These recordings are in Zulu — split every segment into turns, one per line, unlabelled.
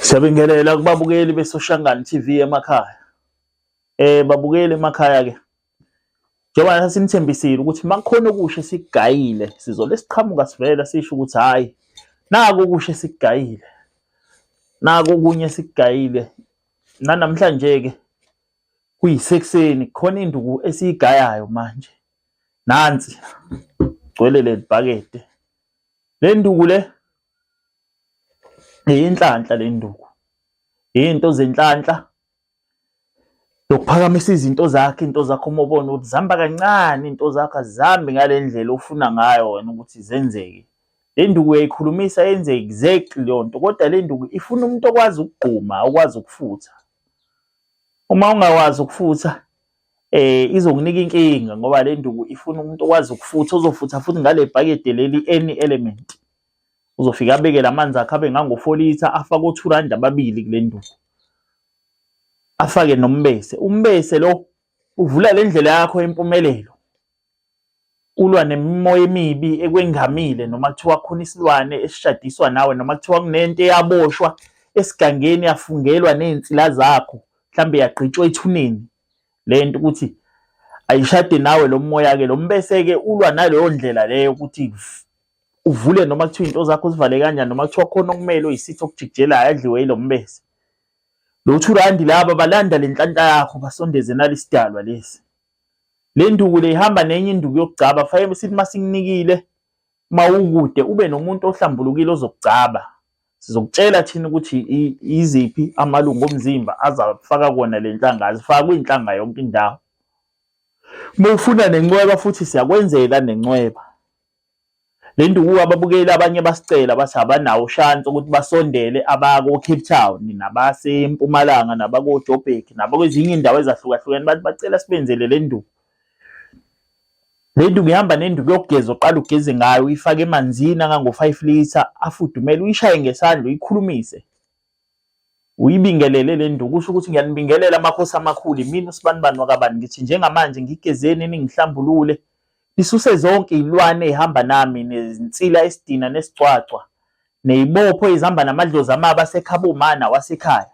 Siyabingelela kubabukeli beSoshangani TV emakhaya. Eh babukeli emakhaya ke. Njengoba sasinithembisile ukuthi makukhona okusha sigayile sizole siqhamuka sivela sisho ukuthi hayi naku okusha sigayile. Naku okunye sigayile. Nanamhlanje ke kuyisekuseni khona induku esiyigayayo manje. nansi gcwele lelibhakede lenduku le yinhlanhla lenduku izinto zenhlanhla lokuphakamisa izinto zakhe into zakho uma ubona ukuthi zihamba kancane into zakho azihambi ngale ndlela ofuna ngayo wena ukuthi zenzeke le nduku uyayikhulumisa yenze exactly leyo nto kodwa le nduku ifuna umuntu okwazi ukugquma okwazi ukufutha uma ungakwazi ukufutha eh izokunika inkinga ngoba le nduku ifuna umuntu okwazi ukufutha uzofutha futhi ngale bhakede leli any element uzofika abeke lamanzi akhe abe ngango-4 litha afake o-2 rand ababili kule nduku afake nombese umbese lo uvula le ndlela yakho yempumelelo ulwa nemimoya emibi ekwengamile noma kuthiwa khona isilwane esishadiswa nawe noma kuthiwa kunento eyaboshwa esigangeni yafungelwa nezinsila zakho mhlambe yagqitshwa ethuneni lento ukuthi ayishade nawe lo moya ke lo mbese ke ulwa naleyo ndlela leyo ukuthi uvule noma kuthiwa into zakho uzivale kanjani noma kuthiwa khona okumele uyisitho okujikijelayo adliwe yilo mbese lo thurandi laba balanda lenhlanhla yakho basondeze nalisidalwa lesi Le nduku le ihamba nenye induku yokugcaba fanele sithi masikunikile mawukude ube nomuntu ohlambulukile ozokugcaba sizokutshela thina ukuthi iziphi amalungu omzimba azafaka kona le nhlanga azifaka kwinhlanga yonke indawo uma ufuna nencweba futhi siyakwenzela nencweba Le nduku ababukeli abanye basicela bathi abanawo ushansi ukuthi basondele abakoCape Town nabaseMpumalanga nabakoJoburg nabakwezinye indawo ezahlukahlukene bathi bacela sibenzele le nduku. Le nduku ihamba nenduku yokugeza oqala ugeze ngayo uyifake emanzini angango-five litre afudumele uyishaye ngesandla uyikhulumise. uyibingelele le nduku usho ukuthi ngiyanibingelela amakhosi amakhulu imina usibanibani wakabani ngithi njengamanje ngigezeni ningihlambulule nisuse zonke izilwane ezihamba nami nezinsila esidina nesicwacwa nezibopho ezihamba namadlozi amaba asekhaba umana wasekhaya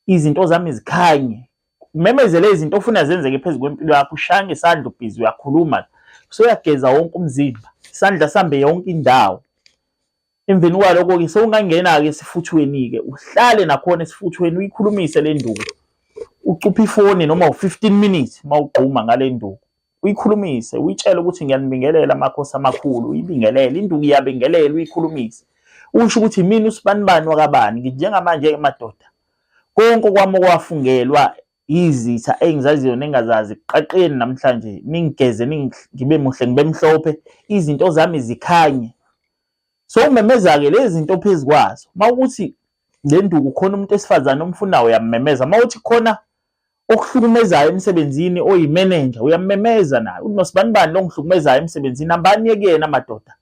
izinto zami zikhanye umemezele izinto ofuna zenzeke phezu kwempilo yakho ushaya ngesandla ubhizi uyakhuluma usuyageza wonke umzimba isandla sambe yonke indawo Emveni kwaloko-ke sewungangena-ke esifuthweni-ke uhlale nakhona esifuthweni uyikhulumise le nduku ucuphe ifoni noma u-15 minutes uma ugquma ngale nduku uyikhulumise uyitshele ukuthi ngiyanibingelela amakhosi amakhulu uyibingelele induku iyabingelela uyikhulumise usho ukuthi mina usibanibani wakabani nginjengamanje-ke madoda konke kwami okwafungelwa izitha engizaziyo nengazazi qaqeni namhlanje ningigeze ngibe muhle ngibe mhlophe izinto zami zikhanye so umemeza-ke lezi zinto phezu kwazo uma ukuthi le nduku khona umuntu esifazane omfunayo uyammemeza uma uthi khona okuhlukumezayo emsebenzini oyimenenja uyammemeza naye uthi nosibani bani lo ngihlukumezayo emsebenzini hambani yekuyena madoda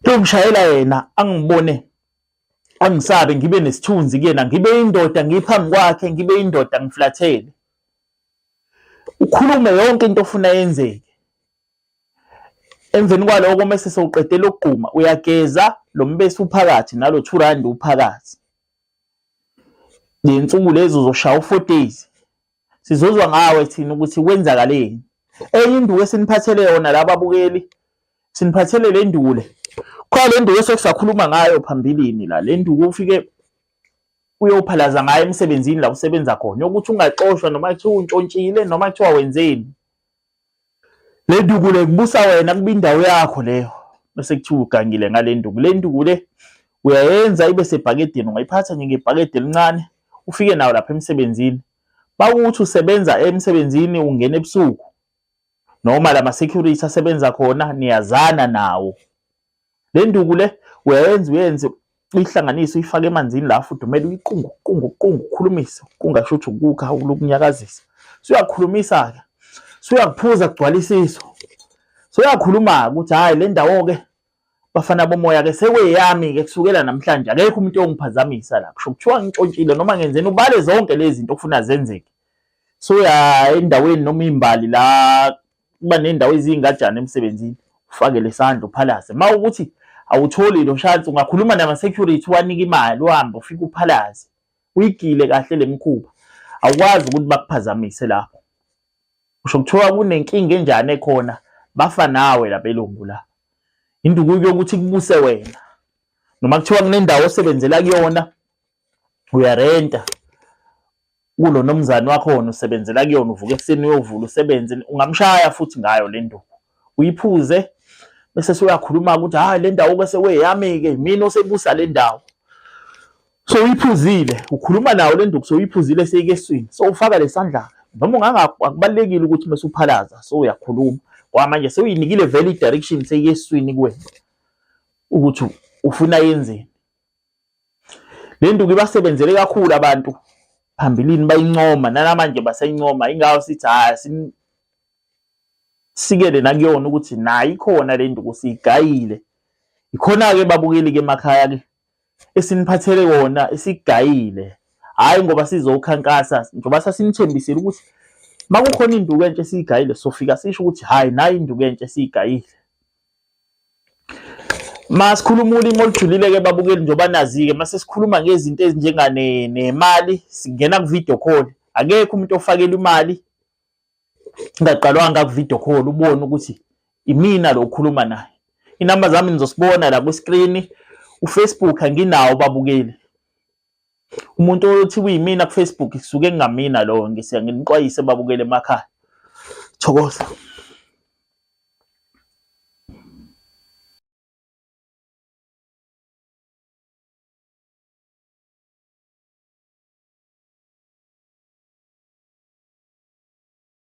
lomshayela yena angibone angisabe ngibe nesithunzi kuyena ngibe indoda ngiphambi kwakhe ngibe indoda ngiflathele ukhulume yonke into ofuna yenzeke emveni kwaloko mese sewuqedela ukugquma uyageza lo mbesi uphakathi nalo 2 rand uphakathi lensuku lezo uzoshaya u 4 days sizozwa ngawe thina ukuthi kwenzakaleni enye induku esiniphathele yona laba abukeli siniphathele le nduku le khona le nduku esekusakhuluma ngayo phambilini la le nduku ufike uyophalaza ngayo emsebenzini la usebenza khona yokuthi ungaxoshwa noma kuthiwa untshontshile noma kuthiwa wenzeni Le nduku le kubusa wena kuba indawo yakho leyo bese kuthiwa ugangile ngale nduku. Le nduku le uyayenza ibe sebhakedeni, ungayiphatha nje ngebhakede elincane ufike nawo lapha emsebenzini. Bakuthi usebenza emsebenzini ungena ebusuku noma lama security asebenza khona niyazana nawo. Le nduku le uyayenza uyenze uyihlanganise uyifake emanzini la afudumele uyiqungu qungu qungu ukhulumise kungasho ukuthi ukukha ukunyakazisa suyakhulumisa ke suyakuphuza kugcwalisiso soyakhuluma ukuthi hayi le ndawo ke bafana bomoya ke sekweyami ke kusukela namhlanje akekho umuntu ongiphazamisa la kusho kuthiwa ngintshontshile noma ngenzeni ubale zonke lezi zinto okufuna zenzeke soya endaweni noma imbali la kuba nendawo eziyingajana emsebenzini ufakele isandla uphalaze ma ukuthi awutholi lo shansi ungakhuluma nama-security wanike imali uhambe ufike uphalaze uyigile kahle le mikhuba awukwazi ukuthi bakuphazamise lapho usho kuthiwa kunenkinga enjani ekhona bafa nawe lapha elungu la induku yokuthi kubuse wena noma kuthiwa kunendawo osebenzela kuyona uyarenta kulo nomzane wakho wona usebenzela kuyona uvuka ekuseni uyovula usebenze ungamshaya futhi ngayo le nduku uyiphuze bese soyakhuluma ukuthi hayi le ndawo bese weyami-ke mina osebusa le ndawo so uyiphuzile ukhuluma nawo le nduku so uyiphuzile seyikeswini so ufaka lesandla noma ungangakubalekile ukuthi mase uphalaza so uyakhuluma kwamanje sewuyinikile vele i-direction seyiyeswini kuwena ukuthi ufuna yenzeni Le nduku ibasebenzele kakhulu abantu phambilini bayincoma nanamanje baseyincoma ingawo sithi hhayi simsikele nakuyona ukuthi nayo ikhona le nduku siyigayile ikhona-ke babukeli-ke emakhaya-ke esiniphathele kona esigayile hhayi ngoba sizokhankasa njengoba sasinithembisile ukuthi uma kukhona induku entsha esiyigayile sofika sisho ukuthi hhayi nayi induku entsha esiyigayile Masikhuluma ulimi olujulile-ke babukeli njengoba nazi-ke mase sikhuluma ngezinto ezinjenganemali singena ku-video call akekho umuntu ofakelwa imali ngaqalwanga ku-video call ubone ukuthi imina lo okhuluma naye inamba zami nizosibona la kwiskrini ufacebook anginawo babukeli umuntu othi kuyimina ku Facebook kusuke kungamina lowo ngise nginixwayise babukele emakhaya thokoza